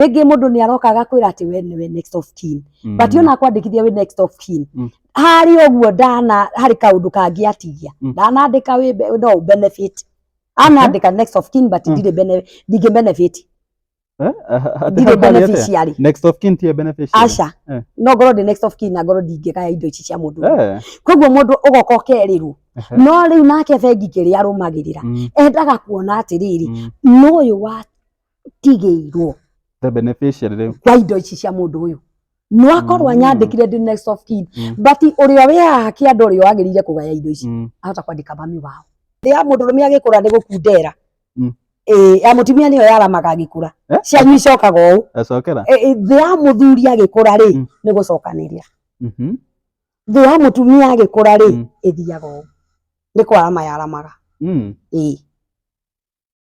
rĩngĩ mũndũ nĩ aroka agakwĩra atĩ we nĩwe next of kin Mm. but ona akwandĩkithia wĩ next of kin Mm. harĩ ũguo ndana harĩ kaũndũ kangĩatigia Mm. ndanandĩka wĩ be- no ũ benefit anandĩka next of kin but Mm. ndirĩ bene- ndingĩ benefit Eh? Ati ndirĩ hau harĩ atĩa? beneficiary Next of kin tiye beneficiary. aca Eh. no ngorwo ndĩ next of kin na ngorwo ndingĩgaya indo ici cia mũndũ ũyũ. Eh. koguo mũndũ ũgoka ũkerirwo Ehe. no rĩu nake bengi kĩrĩa arũmagĩrĩra Mm. endaga kuona atĩrĩrĩ Mm. n'ũyũ wa tigĩirwo the beneficiary rĩu kwa indo ici cia mũndũ ũyũ no akorwo Mm. anyandĩkire ndĩ next of kin Mm. but ũrĩa wĩ haha kĩanda ũrĩa wagĩrĩire kũgaya indo ici Mm. ahota kwandĩka mami wao thĩ ya mũndũrũme agĩkũra nĩ gũkundera Mm. Ĩĩ, ya mũtumia nĩyo yaramaga agĩkũra Eh? cianyu icokaga ũũ acokera Ĩ- ĩ, thĩ ya mũthuri agĩkũra rĩ Mm. nĩ gũcokanĩria Mhm. thĩ ya mũtumia agĩkũra rĩ Mm. ĩthiaga ũũ nĩ kwarama yaramaga Mm. ĩĩ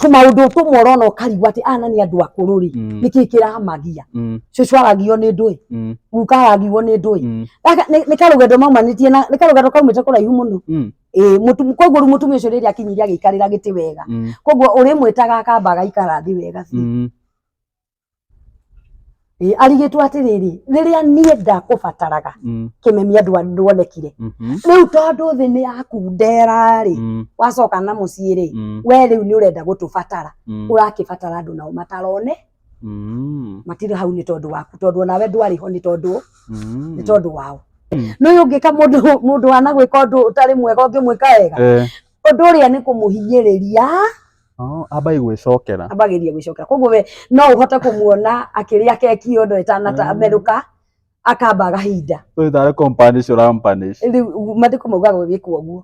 tũmaũndũ tũ morona ũkarigwo atĩ ana nĩ andũ akũrũ rĩ Mm. nĩkĩ kĩramagia Mm. cũcũ aragio nĩ ndũĩ Mm. guka aragio nĩ ndũĩ Mm. Gaka nĩ nĩ karũgendo maumanĩtie na nĩ karũgendo kaumĩte kũraihu mũno Mm. ĩĩ mũtu- koguo rĩu mũtumia ũcio rĩrĩa akinyire agĩikarĩra gĩtĩ wega Mm. koguo ũrĩmwĩtaga akamba agaikara thĩ wega biũ Mm. Ĩ, arigĩtwo atĩrĩrĩ rĩrĩa niĩ ndakũbataraga Mm, kĩmemia ndwa- ndwonekire mhm, rĩu tondũ thĩ nĩ yakundera rĩ mm, wacoka na mũciĩ rĩ mm, we rĩu nĩ ũrenda gũtũbatara mm, ũrakĩbatara andũ nao matarone mm, matirĩ hau nĩ tondũ waku tondũ onawe ndwarĩ ho nĩ tondũ mm. nĩ tondũ wao Mm. nĩ ũyũ ũngĩka mũndũ mũndũ wanagwĩka ũndũ ũtarĩ mwega ũngĩmwĩka wega Eh, ũndũ ũrĩa nĩ kũmũhinyĩrĩria Oh, ambai gwĩcokera ambagĩria gwĩcokera koguo we no ũhote kũmuona akĩrĩa keki ĩyo ndo ĩtanamerũka akamba gahinda ũyũ tarĩ companish ũrampanish rĩu mathiko maugaga wĩkwo ũguo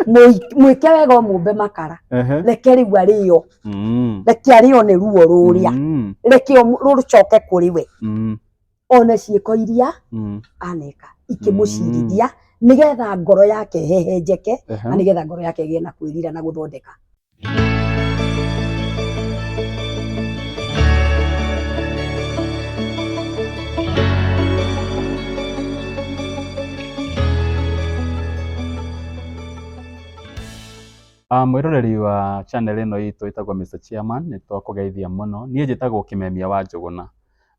Mũi- mwĩke wega ũmũmbe makara Ehe. reke rĩu arĩo Mm. reke arĩo nĩ ruo rũrĩa Mm. reke ũmũ- rũcoke kũrĩ we Mm. one ciĩko iria Mm. aneka ikĩmũcirithia nĩgetha ngoro yake hehenjeke Ehe. na nĩgetha ngoro yake ĩgĩe na kwĩrira na gũthondeka Ah, mwĩroreri wa channel ĩno itũ ĩtagwo Mr. Chairman nĩ twakũgeithia mũno niĩ njĩtagwo Kĩmemia wa Njũgũna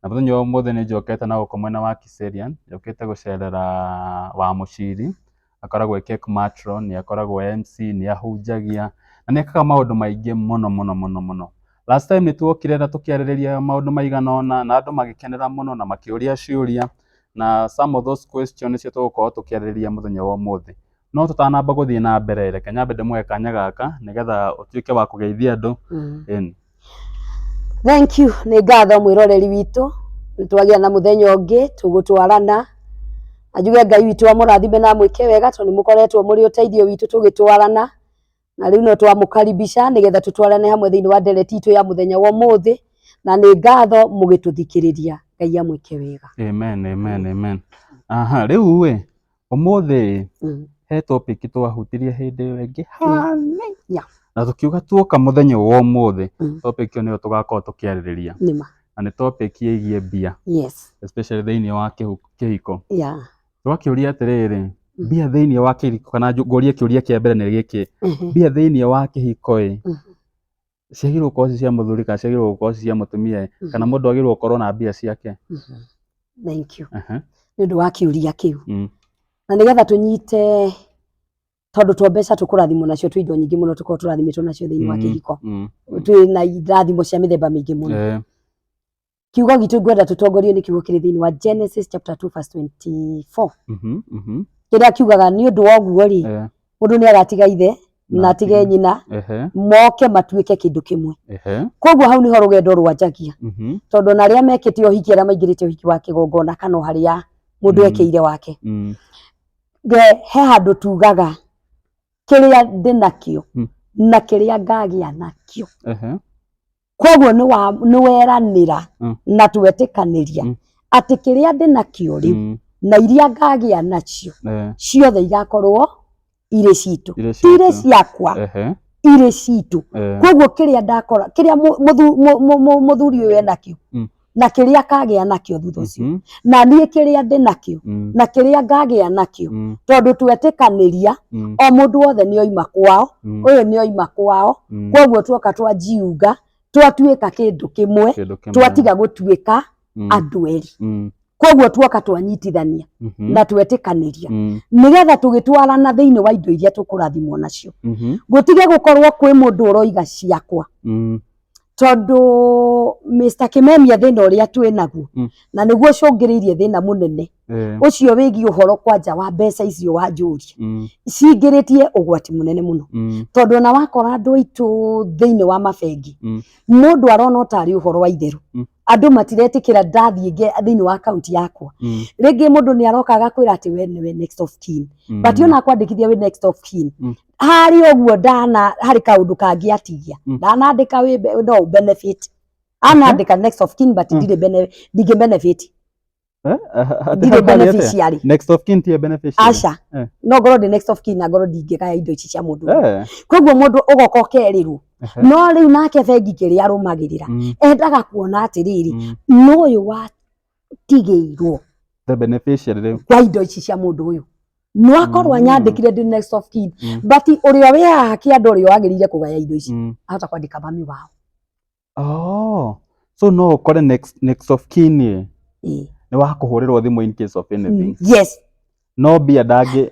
Na mũthenya wa ũmũthĩ nĩ njokete na gũkũ mwena wa Kiserian, njokete gũcerera Wamuchiri, akoragwo e cake matron, nĩ akoragwo e MC, nĩ ahunjagia, na nĩ ekaga maũndũ maingĩ mũno mũno mũno mũno. Last time nĩ twokire na tũkĩarĩrĩria maũndũ maigana ũna na andũ magĩkenera mũno na makĩũria ciũria, na some of those questions nĩcio tũgũkorwo tũkĩarĩrĩria mũthenya wa ũmũthĩ. No tũtanamba gũthiĩ na mbere, reke nyambe ndĩmũhe kanya gaka nĩgetha ũtuĩke wa kũgeithia andũ. Ĩni. Thank you, nĩ ngatho mwĩroreri witũ, nĩ twagĩa na mũthenya ũngĩ tũgũtwarana. Anjuge Ngai witũ amũrathime na amwĩke wega tondũ nĩ mũkoretwo mũrĩ ũteithio witũ tũgĩtwarana. na rĩu no twamũkaribisha nĩgetha tũtwarane hamwe thĩinĩ wa ndereti itũ ya mũthenya wa ũmũthĩ na nĩ ngatho mũgĩtũthikĩrĩria ngai amwĩke wega amen amen amen aha rĩu ĩ ũmũthĩ ĩ, Mm. he topic twahutirie hĩndĩ ĩyo ĩngĩ hanini Yeah. na tũkiuga tuoka mũthenya ũyũ wa ũmũthĩ Mm. topic ĩyo nĩyo tũgakorwo tũkĩarĩrĩria nĩma na nĩ topic ĩgiĩ mbia yes especially thĩinĩ wa kĩhu- kĩhiko yeah Twakĩũria atĩrĩrĩ, Mm. mbia thĩinĩ wa kĩhiko, kana njũ- ngũrie kĩũria kĩa mbere nĩ gĩkĩ, Mhm. mbia thĩinĩ wa kĩhiko-ĩ, Mhm. ciagĩrĩirwo gũkorwo ci cia mũthuri kana ciagĩrĩirwo gũkorwo ci cia mũtumia-ĩ, Mhm. kana mũndũ agĩrĩirwo gũkorwo na mbia ciake? Mhm. Thank you. Aha, Nĩ ũndũ wa kĩũria kĩu. mm, Na nĩgetha tũnyite tondũ to mbeca tũkũrathimwo nacio twĩ indo nyingĩ mũno tũkorwo tũrathimĩtwo nacio thĩinĩ wa Mm. kĩhiko. mm, Twĩ na irathimo cia mĩthemba mĩingĩ mũno. eh, kiugo gitũ ngwenda tũtongorio nĩ kiugo kĩrĩ thĩinĩ wa Genesis chapter 2 verse 24 Mhm, mhm. kĩrĩa kiugaga nĩ ũndũ wa ũguo rĩ Eh, mũndũ nĩ agatiga ithe na atige nyina ehe, moke matuĩke kĩndũ kĩmwe ehe, koguo hau nĩho rũgendo rwanjagia mhm, tondũ ona arĩa mekĩte ũhiki arĩa maingĩrĩte ũhiki wa kĩgongona kana o harĩa mũndũ Mm. ekeire wake mm, Nge- he handũ tugaga kĩrĩa ndĩ nakĩo Mm. na kĩrĩa ngagĩa nakĩo ehe, koguo nĩ wa- nĩ weranĩra Mm. na twetĩkanĩria Mm. atĩ kĩrĩa ndĩ nakĩo rĩu Mm, na iria ngagĩa nacio eh, ciothe igakorwo irĩ citũ irĩ ti irĩ citũ. ciakwa Ehe, irĩ citũ eh, koguo kĩrĩa ndakora kĩrĩa mũ- mũthu- mũ- mũ- mũ- mũthuri ũyũ enakĩo Mm. na kĩrĩa kagĩa nakĩo thutha ũcio Mhm. na niĩ kĩrĩa ndĩ nakĩo Mm. na kĩrĩa ngagĩa nakĩo Mm. tondũ twetĩkanĩria Mm. o mũndũ wothe nĩ oima kwao Mm. ũyũ nĩ oima kwao Mm. kwoguo tuoka twanjiunga twatuĩka kĩndũ kĩmwe Kĩndũ kĩmwe. twatiga gũtuĩka Mm. andũ erĩ Mm. kwoguo tuoka twanyitithania Mhm. na twetĩkanĩria Mm. nĩgetha tũgĩtwarana thĩinĩ wa indo iria tũkũrathimwo nacio Mhm. gũtige gũkorwo kwĩ mũndũ ũroiga ciakwa Mm. tondũ Mr. Kimemia thĩna ũrĩa twĩ naguo Mm. na nĩguo ũcũngĩrĩirie thĩna mũnene Eh, ũcio wĩgiĩ ũhoro kwanja wa mbeca icio wanjũria mm, cingĩrĩtie ũgwati mũnene mũno mm, tondũ ona wakora andũ aitũ thĩinĩ wa mabengi Mm. mũndũ arona ũtarĩ ũhoro wa itherũ Mm. andũ matiretĩkĩra ndathiĩ nge- thĩinĩ wa akaunti yakwa mm, rĩngĩ mũndũ nĩ aroka agakwĩra atĩ we nĩwe next of kin mm. but ona akwandĩkithia wĩ next of kin Mm. harĩ ũguo ndana harĩ kaũndũ kangĩatigia Mm. ndanandĩka wĩ be- no benefit anandĩka next of kin but Mm. ndirĩ bene- ndingĩ benefit Eh, ah, ah, ndirĩ ah, ah, beneficiary next of kin tiye beneficiary aca Eh. no ngorwo ndĩ next of kin na ngorwo ndingĩgaya indo ici cia mũndũ ũngĩ. Eh, koguo mũndũ ũgoka ũkerirwo ehe. no rĩu nake bengi kĩrĩa arũmagĩrĩra Mm, endaga kuona atĩrĩrĩ mm. nũyũ wa tigĩirwo the beneficiary rĩu kwa indo ici cia mũndũ ũyũ no akorwo Mm. anyandĩkire ndĩ next of kin Mm. but ũrĩa wĩ haha kĩanda ũrĩa wagĩrĩire kũgaya indo ici Mm. ahota kwandĩka mami wao Oh. so no ũkore next, next of kin ĩ, Ĩĩ. nĩ wakũhũrĩrwo thimũ in case of anything yes no mbia ndangĩ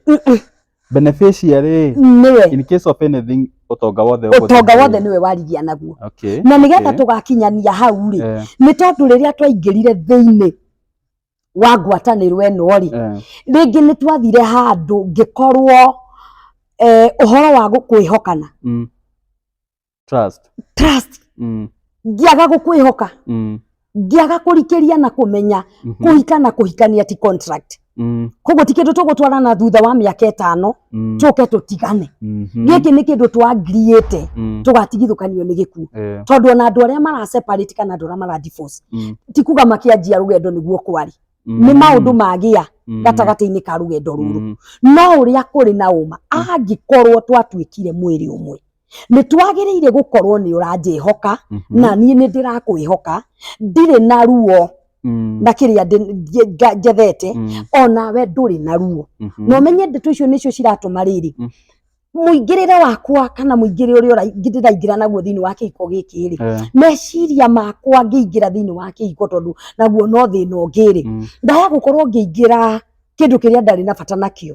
beneficiary nĩwe in case of anything ũtonga wothe ũgũthiĩ ũtonga kũrĩ- wothe nĩwe warigia naguo okay na nĩgetha okay. tũgakinyania hau rĩ Eh, nĩ tondũ rĩrĩa twaingĩrire thĩinĩ wa ngwatanĩro ĩno rĩ eh, rĩngĩ nĩ twathire handũ ngĩkorwo eh, ũhoro wa gũkwĩhokana mm, trust trust mm. ngĩaga gũkwĩhoka Mm. ngĩaga kũrikĩria na kũmenya Mhm. kũhika na kũhikania ti contract Mm. koguo ti kĩndũ tũgũtwarana thutha wa mĩaka ĩtano Mm. tũke tũtigane Mhm. gĩkĩ nĩ kĩndũ twangiriĩte Mm. tũgatigithũkanio nĩ gĩkuũ Eh. tondũ ona andũ arĩa maraseparate kana andũ arĩa maradivorce Mm. ti kuga makĩanjia rũgendo nĩguo kwarĩ Mm. nĩ maũndũ magĩa Mm. gatagatĩ-inĩ ka rũgendo rũrũ Mm. no ũrĩa kũrĩ na ũma angĩkorwo twatuĩkire mwĩrĩ ũmwe nĩ twagĩrĩire gũkorwo nĩ ũranjĩhoka Mhm. na niĩ nĩ ndĩrakwĩhoka ndirĩ na ruo Mm. na kĩrĩa ndĩ- nje- nga- njethete Mm. o nawe ndũrĩ na ruo Mhm. na ũmenye ndeto icio nĩcio ciratũma rĩrĩ Mm. mũingĩrĩre wakwa kana mũingĩre ũrĩa ũra- ndĩraingĩra naguo thĩinĩ wa kĩhiko gĩkĩ rĩ Eh, meciria makwa ngĩingĩra thĩinĩ wa kĩhiko tondũ naguo no thĩna ũngĩ rĩ mm. ndaya gũkorwo ngĩingĩra kĩndũ kĩrĩa ndarĩ na bata nakĩo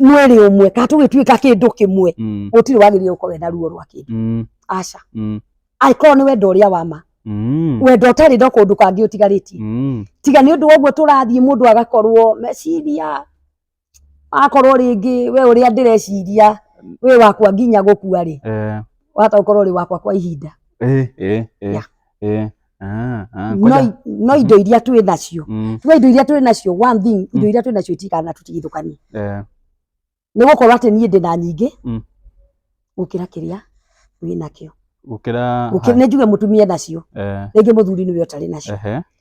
mwĩrĩ ũmwe kana tũgĩtuĩka kĩndũ kĩmwe Mm. gũtirĩ wagĩrĩire gũkorwo wenda ruo rwa kĩndũ Mm. aca Mm. angĩkorwo nĩ wendo ũrĩa wa ma Mm. wendo ũtarĩ ndo kũndũ kangĩ ũtigarĩtie Mm. tiga nĩ ũndũ woguo tũrathiĩ mũndũ agakorwo meciria akorwo rĩngĩ we ũrĩa ndĩreciria wĩ wakwa nginya gũkua rĩ Eh. wahota gũkorwo ũrĩ wakwa kwa ihinda Eh. Eh. Eh. Yeah. Eh, ah, ah, no, ngoja. no indo iria twĩ nacio Mm, tuga indo iria twĩ nacio one thing indo iria twĩ nacio itikana tũtigithũkanie eh, nĩ gũkorwo atĩ niĩ ndĩ na nyingĩ Mm. gũkĩra kĩrĩa wĩ nakĩo gũkĩra Gũkĩra- nĩ njuge mũtumia nacio eh, rĩngĩ mũthuri nĩwe ũtarĩ nacio ehe,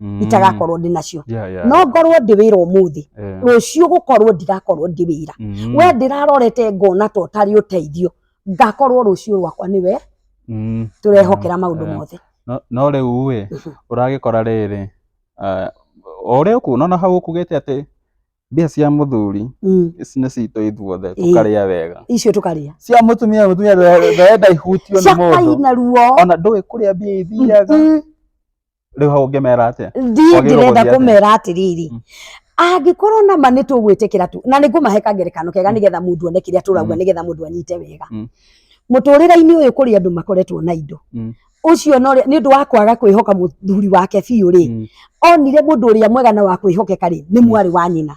Mm. itagakorwo ndĩ nacio Yeah, yeah, no yeah. ngorwo ndĩ wĩra ũmũthĩ Eh, rũciũ gũkorwo ndigakorwo ndĩ wĩra mm, we ndĩrarorete ngona to ũtarĩ ũteithio ngakorwo rũciũ rwakwa nĩwe mm. tũrehokera maũndũ Eh. mothe No- no rä u ä Mhm. å ragä kora rä rä o rä å kuona na hau å kugä te atä mbia cia må thuri Mm. ici nä citå ithuothe Ĩĩ. tå karä a wega icio tũkarĩa cia må tumia må tumia ndarenda ihutio nä må ndå ciakaina ruo ona ndå ä kå rä a mbia ithiaga Mm. rä u hau å ngä mera atä thiä Wagĩrĩirwo ndĩrenda gũthiĩ atĩa? kũmera atĩrĩrĩ Mm. angĩkorwo nama nĩ tũgwĩtĩkĩra tu na nĩ ngũmahe kangerekano kega nĩgetha mũndũ one kĩrĩa tũrauga Mm. nĩgetha mũndũ anyite wega Mm. mũtũrĩre-inĩ ũyũ kũrĩ andũ makoretwo na indo Mm. ũcio no nĩ ũndũ wa kwaga kwĩhoka mũthuri wake biũ rĩ onire mũndũ ũrĩa mwega na wa kwĩhokeka rĩ nĩ mwarĩ wa nyina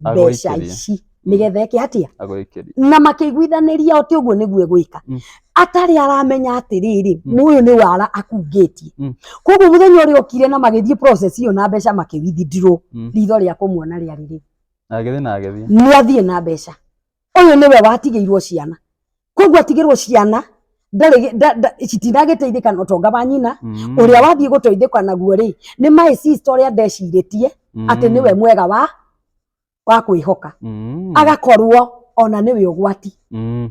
mbeca Agũikĩrie. ici Mm. nĩgetha eke atia agwĩkĩria na makĩiguithanĩria atĩ ũguo nĩguo egwĩka Mm. atarĩ aramenya atĩrĩrĩ Mm. mũyũ nĩ wara akungĩtie Mm. koguo mũthenya ũrĩa okire na magĩthiĩ process iyo na mbeca makĩwithindirwo Mm. ritho rĩa kũmuona rĩarĩ rĩu na agĩthiĩ na agĩthiĩ nĩ athiĩ na mbeca ũyũ nĩwe watigĩirwo ciana koguo atigĩrwo ciana ndarĩ gĩ- nda- nda- citinagĩteithĩka na ũtonga wa nyina Mm. ũrĩa wathiĩ gũteithĩka naguo rĩ nĩ my sister ũrĩa ndecirĩtie atĩ Mm. nĩwe mwega wa wa kwĩhoka Mm. agakorwo ona nĩwe ũgwati Mm.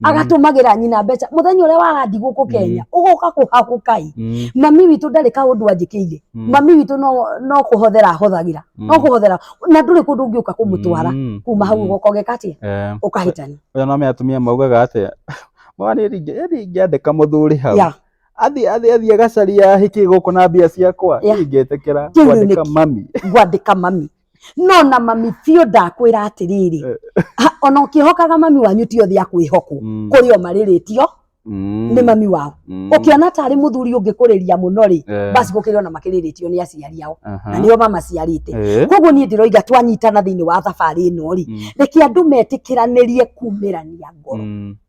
Mm. agatũmagĩra nyina mbeca mũthenya ũrĩa warandi gũkũ Kenya ũgoka kũhakũkai Mm. mami witũ ndarĩ kaũndũ anjĩkĩire Mm. mami witũ no no kũhothera ahũthagĩra Mm. no kũhothera na ndũrĩ kũndũ ũngĩũka kũmũtwara Mm. kuma hau Mm. ũgoka ũgeka atĩa Eh, ũkahĩtania oya no me atumia maugaga atĩa mwana ingĩandĩka mũthuri hau Ya. athi athi athi agacaria hiki gũkũ na mbia ciakwa Yeah. ingĩtĩkĩra Kĩu rĩu kwandĩka nĩkĩ? mami gwandĩka mami no na mami biũ ndakwĩra atĩrĩrĩ ha, ona ũkĩhokaga mami wanyu ti othe akwĩhokwo Mm. kũrĩ o marĩrĩtio Mm. nĩ mami wao Mm. ũkĩona tarĩ mũthuri ũngĩkũrĩria mũno rĩ Eh. basi gũkĩrĩ ona makĩrĩrĩtio nĩ aciari ao Aha. na nĩo mamaciarĩte Eh. koguo niĩ ndĩroiga twanyitana thĩinĩ wa thabarĩ ĩno rĩ Mm. reke andũ metĩkĩranĩrie kumĩrania ngoro Mm.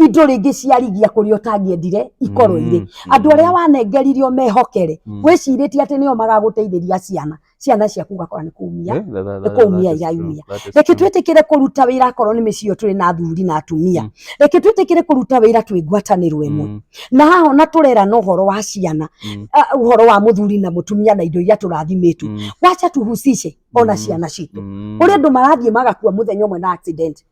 indo rĩngĩ ciarigia kũrĩa ũtangĩendire ikorwo irĩ andũ arĩa wanengeririo mehokere Mm. wĩcirĩtie atĩ nĩo magagũteithĩria ciana ciana ciaku ugakora nĩ kumia Eh, that- that- nĩ that- kũmia that is iraumia. true, that is reke true. twĩtĩkĩre kũruta wĩra akorwo nĩ mĩciĩ ĩyo tũrĩ na athuri na atumia Mm. reke twĩtĩkĩre kũruta wĩra twĩ ngwatanĩro ĩmwe Mm, na haha ona tũrera na ũhoro wa ciana mm, ah, ũhoro wa mũthuri na mũtumia na indo iria tũrathimĩtwo mm, wacha tuhusishe ona Mm. ciana citũ mm. kũrĩ andũ marathiĩ magakua mũthenya ũmwe na accident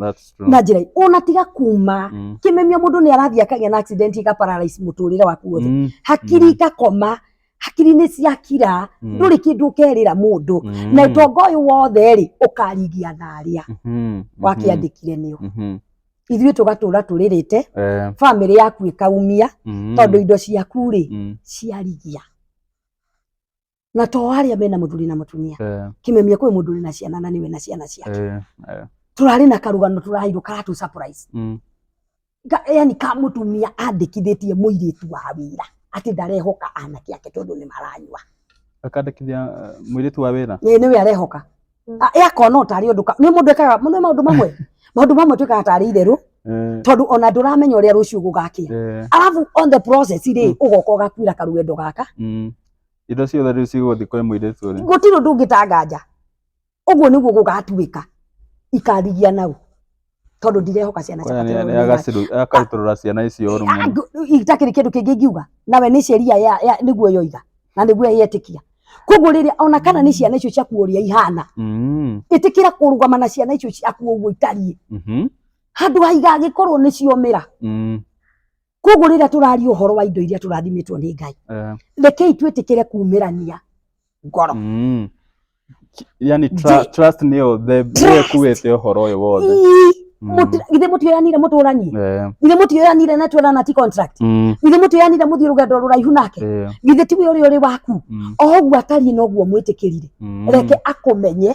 That's true. na njĩra ũnatiga kuma Mm. kĩmemia mũndũ nĩ arathiĩ akagĩa na accident ika paralyze mũtũrĩre waku wothe Mm. hakiri Mm. ikakoma hakiri nĩ ciakira Mm. ndũrĩ kĩndũ ũkerĩra mũndũ Mm. na ũtonga ũyũ wothe rĩ ũkaringia na arĩa Mhm. wakĩandĩkire nĩo Mhm. ithuĩ tũgatũra tũrĩrĩte Eh, bamĩrĩ yaku ĩkaumia mhm. tondũ indo ciaku rĩ Mm. ciarigia na to aria mena muthuri na mutumia Eh, kimemia kwi mundu ri na ciana na niwe na ciana ciake eh, eh, turari na karugano turairwo karatu surprise mm, Ga- yani ka mutumia andikithitie muiritu wa wira ati ndarehoka anake ake tondu ni maranyua akandĩkithia eh, mũirĩtu wa wĩra Ĩ, nĩwe arehoka Mm. A- ĩ akona ũtarĩ ũndũ ka- nĩ mũndũ ekaga nĩ maũndũ mamwe maũndũ mamwe twĩkaga tarĩ itherũ Eh, tondũ ona ndũramenya ũrĩa rũciũ gũgakĩa eh, arabu on the process rĩ ũgoka ũgakuĩra karũgendo gaka mm, indo ciothe rĩu cigũthiĩ kwĩ mũirĩtu ũrĩa gũtirĩ ũndũ ũngĩtanganja ũguo nĩguo gũgatuĩka ikarigia nau tondũ ndirehoka ciana kwaya ciakwa nĩ agaciru- akarutũrũra ciana icio ũru mũno itakĩrĩ kĩndũ kĩngĩ ingiuga nawe nĩ sheria ya, ya, nĩguo yoiga na nĩguo yetĩkia koguo rĩrĩa ona kana nĩ ciana icio ciaku ũrĩa ihana Mm, ĩtĩkĩra kũrũgama na ciana icio ciaku ũguo itariĩ mhm, handũ haiga gĩkorwo nĩ ciomĩra mm. koguo rĩrĩa tũraria ũhoro wa indo iria tũrathimitwo nĩ ngai Eh, rekei twĩtĩkĩre kumĩrania ngoro mm. Ki- yani Ji- tra- trust nĩyo the- nĩyo Trust. ĩkuĩte ũhoro ũyũ wothe Ii, Mm. mũti- githĩ mũtioyanire mũtũranie Eh, githĩ mũtioyanire na twerana ti contract mm, githĩ mũtioyanire mũthiĩ rũgendo rũraihu nake eh, githĩ tiwe ũrĩa ũrĩ waku mm, oũguo atariĩ noguo mwĩtĩkĩrire mm. reke akũmenye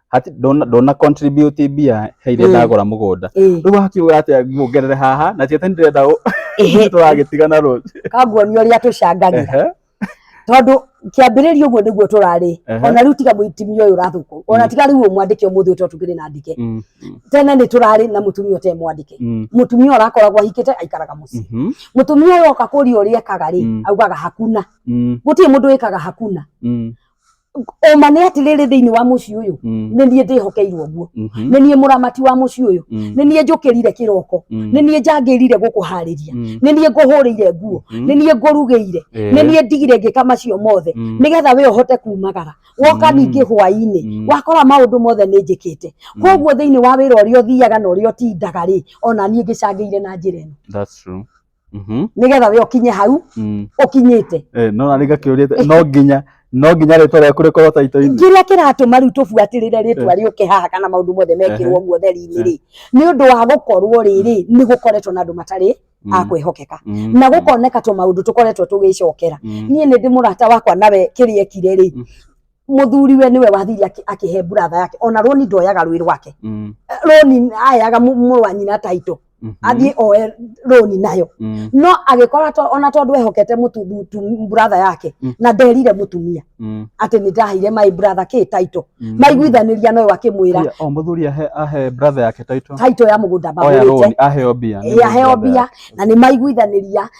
hati ndona ndona contribute mbia he iria Mm. ndagũra mũgũnda Ĩĩ. rĩu hakiuga atĩa nguongerere haha na tiete ndirenda ũ- Ehe. tũragĩtigana rũciũ kanguonia ũrĩa tũcangagĩra Ehe. tondũ kĩambĩrĩria ũguo nĩguo tũrarĩ Ehe. ona rĩu tiga mũitimia ũyũ ũrathũkwo ona tiga rĩu ũyũ mwandĩke ũmũthĩ ũtũ tũkĩrĩ na ndike Mm, tene nĩ tũrarĩ na mũtumia ũte mwandĩke mm, mũtumia ũrakoragwo ahikĩte aikaraga mũciĩ mhm, mũtumia ũyũ oka kũria ũrĩa ekaga rĩ Mm. augaga hakuna mm, gũtirĩ mũndũ wĩkaga hakuna mm, ũma nĩ atĩrĩrĩ thĩinĩ wa mũciĩ ũyũ Mm. nĩ niĩ ndĩhokeirwo guo Mhm. nĩ niĩ mũramati wa mũciĩ ũyũ Mm. nĩ niĩ njũkĩrire kĩroko Mm. nĩ niĩ njangĩrire gũkũharĩria Mm. nĩ niĩ ngũhũrĩire nguo Mhm. nĩ niĩ ngũrugĩire Eh. nĩ niĩ ndigire ngĩka macio mothe Mm. nĩgetha we ũhote kumagara woka Mm. ningĩ hwaĩ-inĩ Mm. wakora maũndũ mothe nĩ njĩkĩte koguo thĩinĩ wa wĩra ũrĩa ũthiaga na ũrĩa ũtindaga rĩ ona niĩ ngĩcangĩire na njĩra ĩno That's true. Mhm. nigetha we ukinye hau Mm. ukinyite Eh, no na nigakĩũria no nginya no nginya rĩtwa rĩaku rĩkorwo taito-inĩ kĩrĩa kĩratũma rĩu tũbuatĩrĩre rĩtwa rĩũke haha kana maũndũ mothe mekĩrwo guo theri-inĩ rĩ nĩ ũndũ wa gũkorwo rĩrĩ nĩ gũkoretwo na andũ matarĩ a Mm. kwĩhokeka Mm. na gũkoneka tũ maũndũ tũkoretwo tũgĩcokera Mm. niĩ nĩ ndĩ mũrata wakwa nawe kĩrĩa ekire rĩ Mm. muthuri we niwe wathiria aki- akihe buratha yake ona roni ndoyaga rwi rwake Mm. Eh, roni ayaga mu- mũrũ wa nyina taitũ Mhm. athiĩ oe roni nayo Mm. no agĩkora to- ona tondũ ehokete mũtu- mũtu- buratha yake Mm. na nderire mũtumia Mm. atĩ nĩ ndaheire my brother kä taitå Mm. maiguithanĩria noyo akĩmwĩra Ria, o muthuri ahe ahe brother yake taito taitå ya må gå nda oya magå roni aheo mbia nä ä aheo brother mbia yake. na nä maiguithanĩria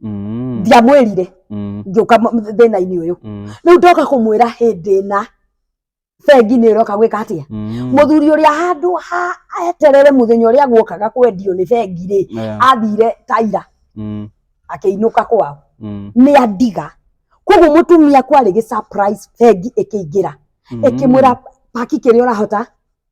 Mm. ndiamwĩrire Mm. ngĩũka m- thĩna-inĩ ũyũ Mm. rĩu ndoka kũmwĩra hĩndĩ ĩna bengi nĩ ĩroka gwĩka atĩa Mm. mũthuri ũrĩa handũ ha eterere mũthenya ũrĩa guokaga kwendio nĩ bengi rĩ Yeah. athire taira Mm. akĩinũka kwao Mm. nĩ andiga koguo mũtumia kwarĩ gĩ surprise bengi ĩkĩingĩra Mm. ĩkĩmwĩra paki kĩrĩa ũrahota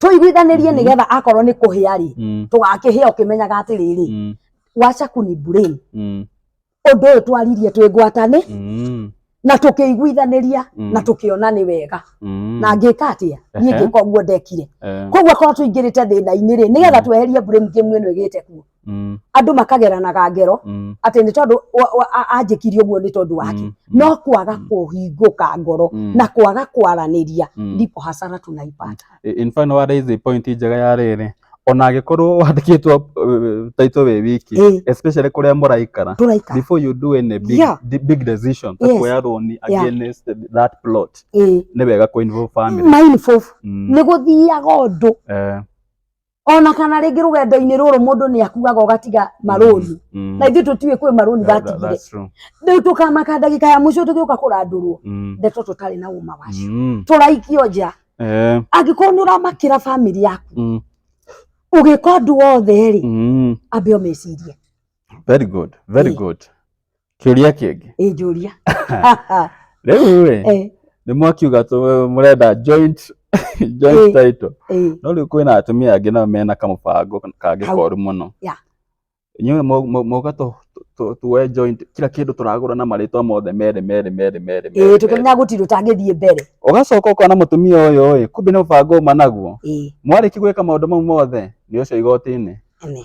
tũiguithanirie nĩ getha akorwo nĩ kũhĩa rĩ Mm. tũgakĩhĩa ũkĩmenyaga atĩrĩrĩ Mm. wacha kuni brain Mm. ũndũ ũyũ twaririe twĩ ngwatanĩ Mm. na tũkĩiguithaniria Mm. na tũkĩona nĩ wega Mm. na ngĩka atĩa niĩ Ehe. ngĩka ũguo ndekire Eh. koguo korwo tũingĩrĩte thĩna-inĩ rĩ nĩgetha tweherie brain game ĩno ĩgĩte kuo Mm, andå makageranaga ngero mm, atä nä tondå anjäkirie å guo nä tondå wake mm, mm, no kwaga mm. kå hingå ka ngoro mm, na kwaga kwaranä ria mm. ndipo hasara tunaipata I- in fact no waraise point njega ya rĩrĩ ona angĩkorwo wandĩkĩtwo uh, taitũ wĩ wiki Eh, especially kũrĩa mũraikara tå raika before you do any big, Yeah. di- big decision ta Yes. kuoya roni Yeah. against that plot nĩ wega kũ involve family mindful Mm, nä gå thiaga å ndå eh, ona kana rĩngĩ rũgendo-inĩ rũrũ mũndũ nĩ akuaga ũgatiga marũni Mm. na ithuĩ tũtiũĩ kwĩ marũni Yeah, that- batigire that's true. rĩu tũkamaka ndagĩka ya mũico tũgĩũka kũrandũrwo Mm. ndeto tũtarĩ na ũma wacio Mm. tũraikio nja Eh. angĩkorwo nĩ ũramakĩra bamĩrĩ yaku Mm. ũgĩka ũndũ wothe rĩ Mm. ambe ũmecirie Very good. Very Eh. good. Kĩũria kĩngĩ. ĩ njũria Rĩu rĩ, Eh, nĩ mwakiuga tũ- mũrenda joint joint Eh. title. eh, No rĩu kwĩna atumia angĩ nao mena kamũbango kangĩ Kau. koru mũno. Yeah. Inyuĩ mu- mu- muga tũ- tũ- tũ- tuoe joint kila kĩndũ tũragũra na marĩtwa mothe merĩ merĩ merĩ merĩ. ĩ merĩ, merĩ. tũkĩmenya gũtirĩ ũtangĩthiĩ mbere Ũgacoka ũkona mũtumia ũyũ ĩ, kumbe nĩ mũbango ũma naguo. ĩ Mwarĩki gwĩka maũndũ mau mothe nĩ ũcio igoti-inĩ. ene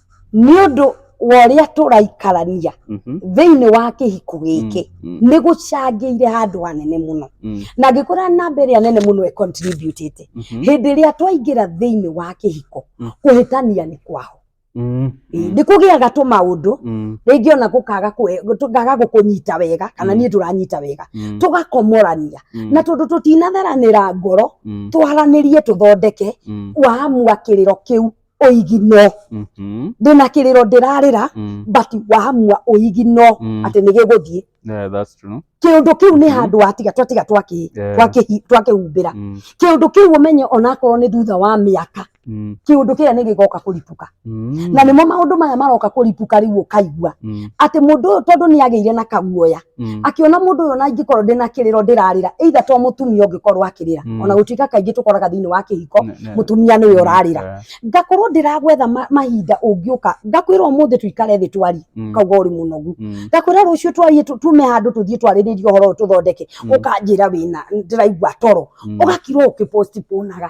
nĩ ũndũ wa ũrĩa tũraikarania Mhm. thĩinĩ wa kĩhiko gĩkĩ Mm, nĩ gũcangĩire handũ hanene mũno mm, na ngĩkora namba ĩrĩa nene mũno ĩcontributĩte mhm, hĩndĩ ĩrĩa twaingĩra thĩinĩ wa kĩhiko Mm. kũhĩtania nĩ kwaho mm, mm, nĩ kũgĩaga tũmaũndũ mm, rĩngĩ ona gũkaga kũhe- tũkaga gũkũnyita wega kana Mm. niĩ ndũranyita wega mm, tũgakomorania mm, na tondũ tũtinatheranĩra ngoro mm, twaranĩrie tũthondeke mm, waamua kĩrĩro kĩu ũigino Mhm. ndĩ na kĩrĩro ndĩrarĩra Mm. but wamua ũigino Mm. atĩ nĩ gĩgũthiĩ Yeah, that's true. kĩũndũ kĩu nĩ Mhm. handũ watiga twatiga twakĩ- Yeah. twakĩhi- twakĩhumbĩra Mm. kĩũndũ kĩu ũmenye onakorwo nĩ thutha wa mĩaka Mm. kĩũndũ kĩrĩa nĩ gĩgoka kũripuka Mm. na nĩmo maũndũ maya maroka kũripuka rĩu ũkaigua Mm. atĩ mũndũ ũyũ tondũ nĩ agĩire na kaguoya Mm. akiona mũndũ ũyũ na ingĩkorwo ndĩna kĩrĩro ndĩrarĩra either to mũtumia ũngĩkorwo akĩrĩra Mm. ona gũtuĩka kaingĩ tũkoraga thĩinĩ wa kĩhiko Ne- ne- mũtumia nĩwe Mm, ũrarĩra eh, ngakorwo ndĩragwetha ma- mahinda ũngĩũka ngakwĩra ũmũthĩ tũikare thĩ twarie mm, kauga ũrĩ mũnogu mm, ngakwĩra rũciũ twarie tu- tume handũ tũthiĩ twarĩrĩrie ũhoro ũyũ tũthondeke Mm. ũkanjĩra wĩna ndĩraigua toro mm. ũgakirwo ũkĩpostponaga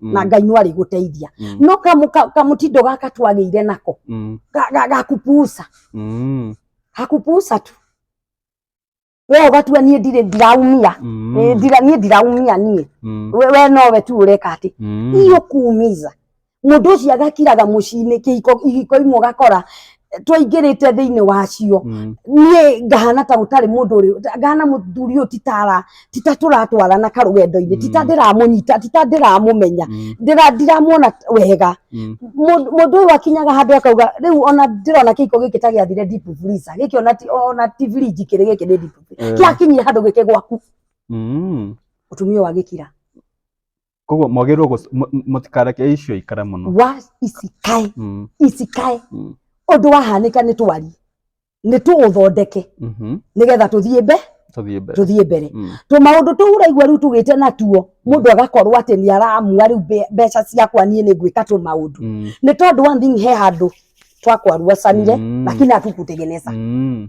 Mm. na ngai no arĩgũteithia Mm. no kamu- ka- kamũtindo gaka twagĩire nako Mm. ga- ga- gakupusa Mm. gakupusa tu we ũgatua niĩ ndirĩ ndiraumia Mm. Eh, ndira- niĩ ndiraumia niĩ Mm. we we nowe tu ũreka atĩ Mm. iyo kuumiza mũndũ ũcio agakiraga mũciinĩ kĩhiko ihiko imwe ũgakora twaingĩrĩte thĩinĩ wacio Mm. niĩ ngahana ta gũtarĩ mũndũ ũrĩ ngahana mũthuri ũyũ titara tita tũratwarana karũgendo-inĩ tita Mm. ndĩramũnyita tita ndĩramũmenya Mm. ndĩra ndiramuona wega Mm. Mũndũ- mũndũ ũyũ akinyaga handũ akauga rĩu ona ndĩrona kĩiko gĩkĩ ta gĩathire deep freezer gĩkĩ ona ti- ona ti fridge kĩrĩ gĩkĩ nĩ deep freezer Eh. kĩakinyire handũ gĩke gwaku Mm. ũtumia ũyũ agĩkira koguo mwagĩrĩirwo gũc- mũ- mũ- mũtikareke icio ikare mũno wa icikae Mm, icikae mm, ũndũ wahanĩka nĩ twarie nĩ tũũthondeke mhm. nĩgetha tũthiĩ mbe tũthiĩ mbere tũthiĩ mbere Mm, tũmaũndũ tũu ũraigua rĩu tũgĩte natuo mũndũ agakorwo atĩ nĩ aramua rĩu mbe- mbeca ciakwa niĩ nĩ ngwĩka tũmaũndũ mm, nĩ tondũ one thing he handũ twakwaruacanire Mm. lakini hatukutegeneza mm.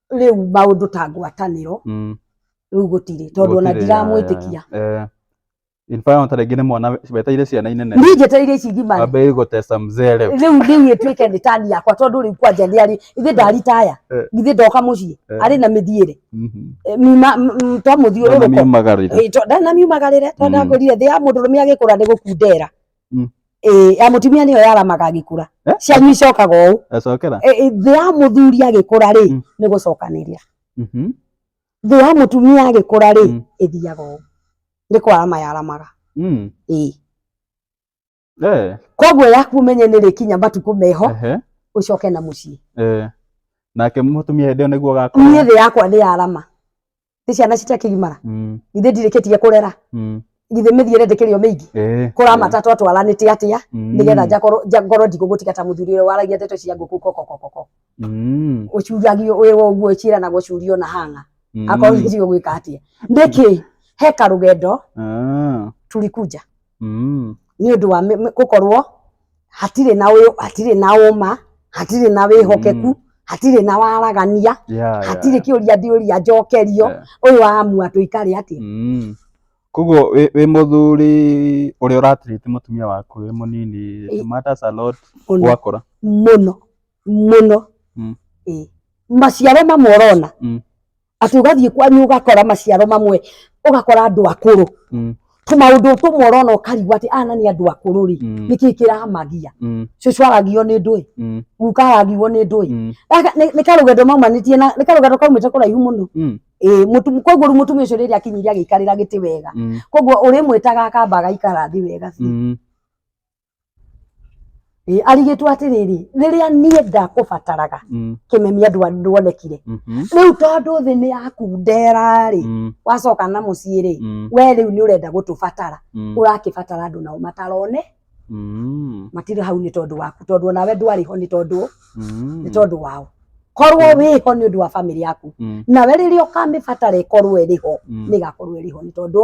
rĩu maũndũ ta ngwatanĩro Mm. rĩu gũtirĩ tondũ ona Gũtirĩ, ndiramwĩtĩkia ya, ya, ya. Eh, in fact, ta rĩngĩ nĩ mwana weteire ciana inene niĩ njetereire ici ngima wambĩrĩrie gũtesta mzee rĩu rĩu rĩu ĩtuĩke nĩ tani yakwa tondũ rĩu kwanja nĩ arĩ ithe ndaritaya Eh. ithe ndoka mũciĩ Eh. arĩ na mĩthiĩre Mhm. Eh, miuma- m- m- to Ndona mũthiũrũrũko miumagarire. Eh, to- ndanamiumagarĩre to Mm. ndakũrire thĩ ya mũndũ rũme agĩkũra nĩ gũkundera Mm. ĩĩ ya mũtumia nĩyo yaramaga agĩkũra Eh? cianyu icokaga ũũ Acokera. Ĩ- ĩ, thĩ ya mũthuri agĩkũra rĩ Mm. nĩ gũcokanĩria Mhm. thĩ ya mũtumia agĩkũra rĩ Mm. ĩthiaga ũũ nĩ kwarama yaramaga Mm. ĩĩ Eh. koguo yaku ũmenye nĩ rĩkinya matukũ meho Ehe. ũcoke na mũciĩ Eh. Nake mũtumia hĩndĩ ĩyo nĩguo niĩ gakũra. thĩ yakwa nĩ yarama nĩ ciana citakĩgimara Mm. githĩ ndirĩkĩtie kũrera Mm. githĩ mĩthiĩre ndĩkĩrĩo mĩingĩ Eh. kũramata twatwaranĩte atĩa Mm. nĩgetha njakorwo nja- ngorwo ndigũgũtiga ta mũthuri ũrĩa waragia ndeto cia ngũkũ kokokokoko Mm. ũcuragio wĩwa ũguo ciĩranagwo curio na hanga Mm. akorwo nĩcio gwĩka atĩa nĩkĩ heka rũgendo Ah. turikunja Mm. nĩ ũndũ wa mĩ- mĩ- gũkorwo hatirĩ na ũyũ hatirĩ na ũma hatirĩ na wĩhokeku Mm. hatirĩ na waragania Yeah, yeah. hatirĩ kĩũria ndiũria njokerio Yeah. ũyũ wamua tũikare atĩa Mm. koguo wĩ wĩ mũthuri ũrĩa ũratirĩte mũtumia waku wĩ mũnini Ĩ. it matters a lot mũno gwakũra mũno mũno Mm. Ĩ. maciaro mamwe ũrona Mm. atĩ ũgathiĩ kwanyu ũgakora maciaro mamwe ũgakora andũ akũrũ Mm. tũmaũndũ tũmwe ũrona ũkarigwo atĩ ana nĩ andũ akũrũ rĩ Mm. nĩkĩ kĩramagia Mm. cũcũ aragio nĩ ndũĩ Mm. guka aragio nĩ ndũĩ Mm. Gaka nĩ- nĩ karũgendo maumanĩtie na nĩ karũgendo kaumĩte kũraihu mũno Mm. Ĩĩ, mũtu- koguo rĩu mũtumia ũcio rĩrĩa akinyire agĩikarĩra gĩtĩ wega Mm. koguo ũrĩmwĩtaga akamba agaikara thĩ wega biũ Mm. Ĩ, arigĩtwo atĩrĩrĩ rĩrĩa niĩ ndakũbataraga Mm. kĩmemia ndwa- ndwonekire Mhm. rĩu tondũ thĩ nĩ yaku ndera-rĩ Mm. wacoka na mũciĩ-rĩ Mm. we rĩu nĩ ũrenda gũtũbatara Mm. ũrakĩbatara andũ nao matarone Mm. matirĩ hau nĩ tondũ waku tondũ onawe ndwarĩ ho nĩ tondũ Mm. nĩ tondũ wao korwo wĩ ho nĩ ũndũ wa bamĩrĩ yaku Mm. nawe rĩrĩa ũkamĩbatara ĩkorwo ĩrĩ ho Mm. nĩgakorwo ĩrĩ ho nĩ tondũ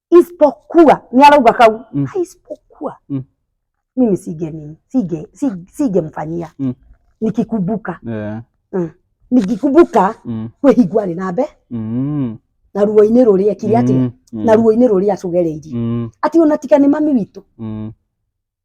isipokuwa ni arauga kau Mm. "Ah, isipokuwa Mm. mimi sige nini sige si- sigemfanyia Mm. nikikumbuka Yeah. nikikumbuka Mm. kwĩhingwa rĩ na mbe Mm. na ruo-inĩ rũrĩa kiri atĩ Mm. na ruo-inĩ rũrĩa acũgereirie Mm. atĩ ona tiga nĩ mami witũ Mm.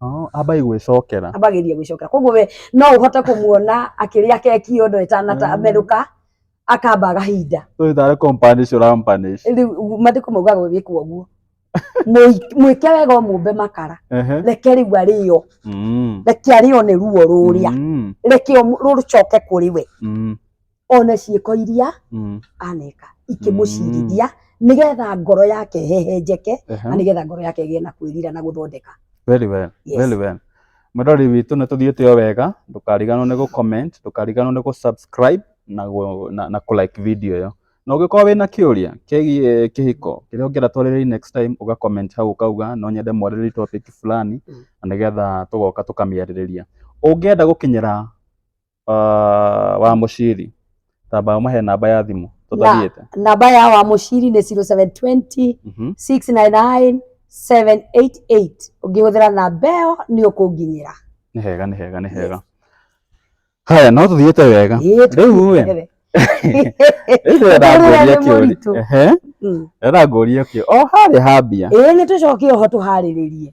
Oh, ambai gwĩcokera ambagĩria gwĩcokera koguo we no ũhote kũmuona akĩrĩa keki yo ndo Mm. ĩtanamerũka akamba agahinda tũitare companish ũrampanish rĩu mathiko maugaga gwĩkwo ũguo Mũi- mwĩke wega ũmũmbe makara Ehe. reke rĩu arĩo Mm. reke arĩo nĩ ruo rũrĩa Mm. reke ũmũ- rũcoke kũrĩ we Mm. one ciĩko iria Mm. aneka ikĩmũcirithia nĩgetha ngoro yake hehenjeke na Ehe. nĩgetha ngoro yake ĩgĩe na kwĩrira na gũthondeka Very well. Yes. Very well. Mũrori witũ nĩ tũthiĩte o wega, ndũkariganwo nĩ gũ-comment, ndũkariganwo nĩ gũ-subscribe na, gũ- na, na kũ-like video ĩyo. Na ũngĩkorwo wĩna kĩũria kĩgiĩ kĩhiko kĩrĩa ũngĩenda twarĩrĩrie next time, ũga-comment hau ũkauga no nyende mwarĩrĩrie topic fulani Mm. na nĩgetha tũgoka tũkamĩarĩrĩria. Ũngĩenda gũkinyĩra ah, wa muciri tamba muhe namba ya thimu tutathiete namba ya wa muciri ni 0720 Mhm. 699 788 ũngĩhũthĩra namba ĩyo nĩ ũkũnginyĩra nĩ hega nĩ hega nĩ hega haya no tuthiete wega Ĩĩ, riu we tũkũnyitĩrĩre. riu ndĩrenda Ũndũ ũrĩa ngũrie nĩ kĩũria mũritũ. Ehe, Mm. ndĩrenda ngũrie kĩũria o harĩa hambia Ĩĩ, nĩ tũcoke oho tũharĩrĩrie